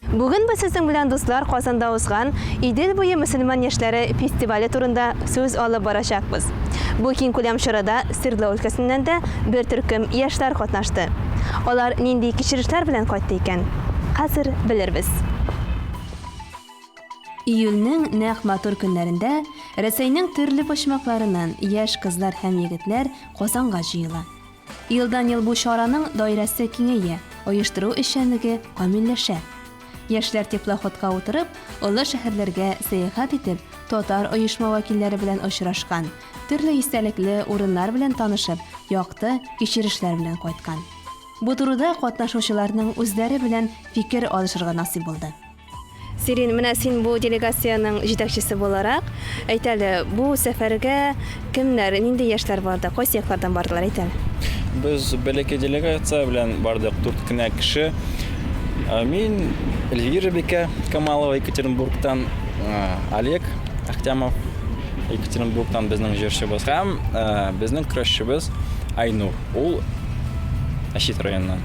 Бүген без сезнең белән дуслар Казанда узган Идел буе мөселман яшьләре фестивале турында сүз алып барачакбыз. Бу киңкүләм чарада Свердло өлкәсеннән дә бер төркем яшьләр катнашты. Алар нинди кичерешләр белән кайтты икән? Хәзер белербез. Июльнең нәкъ матур көннәрендә Рәсәйнең төрле почмакларыннан яшь кызлар һәм егетләр Казанга җыела. Елдан-ел бу чараның даирәсе киңәя, оештыру эшчәнлеге камилләшә. Яшьләр теплоходка утырып, олы шәһәрләргә сәяхәт итеп, татар оешма вәкилләре белән очрашкан, төрле истәлекле урыннар белән танышып, якты кичерешләр белән кайткан. Бу турыда катнашучыларның үзләре белән фикер алышырга насыйп булды. Сирин, менә син бу делегациянең җитәкчесе буларак, әйт әле, бу сәфәргә кемнәр, нинди яшьләр барды, кайсы яклардан бардылар, әйт әле. Без бәләкәй делегация белән бардык, дүрт кенә кеше. Мин, Эльвира бикә Камалова Екатеринбургтан, Олег Ахтямов Екатеринбургтан безнең җырчыбыз һәм безнең көрәшчебез Айнур, ул Әчит районыннан.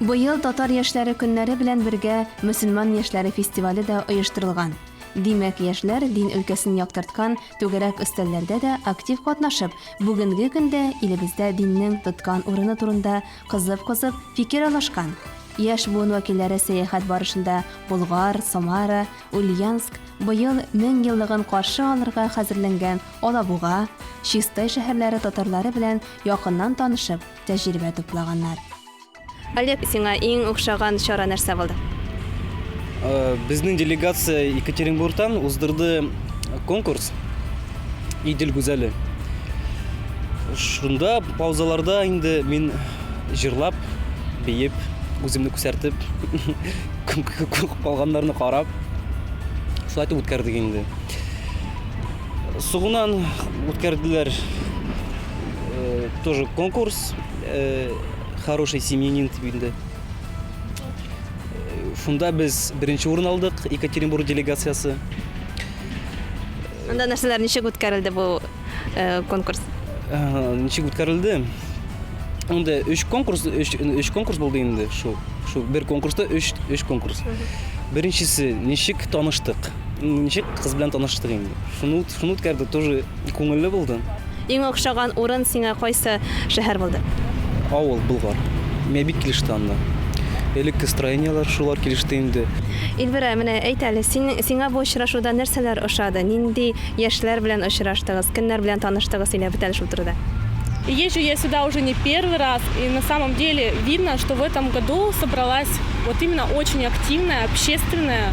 Быел Татар яшьләре көннәре белән бергә Мөселман яшьләре фестивале дә оештырылган. Димәк, яшьләр дин өлкәсен яктырткан түгәрәк өстәлләрдә дә актив катнашып, бүгенге көндә илебездә диннең тоткан урыны турында кызып-кызып фикер алышкан. Яшь буын вәкилләре сәяхәт барышында Болгар, Самара, Ульяновск, быел 1000 еллыгын каршы алырга хәзерләнгән Алабуга, Чистай шәһәрләре татарлары белән якыннан танышып, тәҗрибә туплаганнар. Олег, сиңа иң охшаган чара нәрсә булды? Безнең делегация Екатеринбургтан уздырды конкурс Идел гүзәле. Шунда паузаларда инде мин җырлап, биеп, үземне күсәртеп, калганнарны карап, шулай итеп үткәрдек инде. Сугунан үткәрделәр тоже конкурс. Хороший семьянин дип инде. Шунда без беренче урын алдык, Екатеринбург делегациясе. Анда нәрсәләр ничек үткәрелде бу конкурс? Ничек үткәрелде? Анда өч конкурс, өч конкурс булды инде шул. Шул бер конкурста өч конкурс. Беренчесе ничек таныштык? Ничек кыз белән таныштык инде. Шуны шуны үткәрдек, тоже күңелле булды. Иң охшаган урын сиңа кайсы шәһәр булды? Авыл, Болгар. Миңа бик килеште анда. Элекке строениеләр, шулар килеште инде. Ильвира, менә әйт әле, син, сиңа бу очрашуда нәрсәләр ошады? Нинди яшьләр белән очраштыгыз, кемнәр белән таныштыгыз, сөйләп үт әле шул турыда. Езжу я сюда уже не первый раз, и на самом деле видно, что в этом году собралась вот именно очень активная, общественная,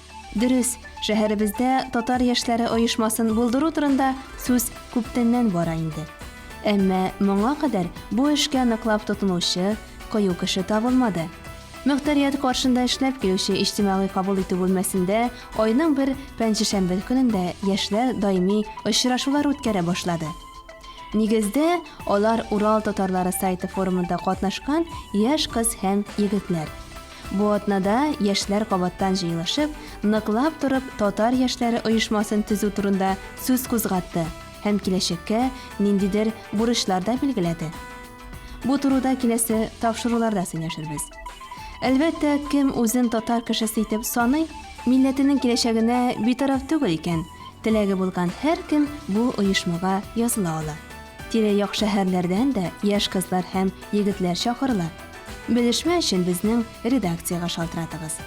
Дөрес, шәһәребездә татар яшьләре оешмасын булдыру турында сүз күптәннән бара инде. Әмма моңа кадәр бу эшкә ныклап тотынучы, кыю кеше табылмады. Мөхтәрият каршында эшләп килүче иҗтимагый кабул итү бүлмәсендә айның бер пәнҗешәмбе көнендә яшьләр даими очрашулар үткәрә башлады. Нигездә, алар Урал татарлары сайты форумында катнашкан яшь кыз һәм егетләр. Бу атнада яшьләр кабаттан җыелышып, Ныклап торып татар яшьләре оешмасын төзү турында сүз кузгатты һәм киләчәккә ниндидер бурычлар да билгеләде. Бу турыда киләсе тапшыруларда сөйләшербез. Әлбәттә, кем үзен татар кешесе итеп саный, милләтенең киләчәгенә битараф түгел икән, теләге булган һәркем бу оешмага языла ала. Тирә-як шәһәрләрдән дә яшь кызлар һәм егетләр чакырыла. Белешмә өчен безнең редакциягә шалтыратыгыз.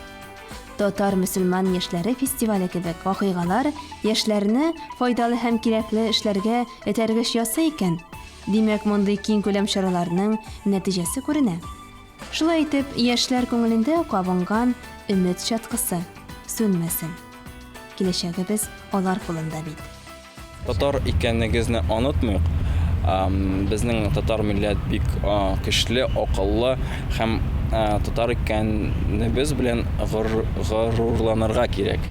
Татар-мөселман яшьләре фестивале кебек вакыйгалар яшьләрне файдалы һәм кирәкле эшләргә этәргеч ясый икән, димәк, мондый киң күләм чараларның нәтиҗәсе күренә. Шулай итеп, яшьләр күңелендә кабынган өмет чаткысы сүнмәсен. Киләчәгебез алар кулында бит. Татар икәнегезне онытмыйк. Безнең татар милләт бик көчле, акыллы һәм татар икәнебез белән горурланырга кирәк.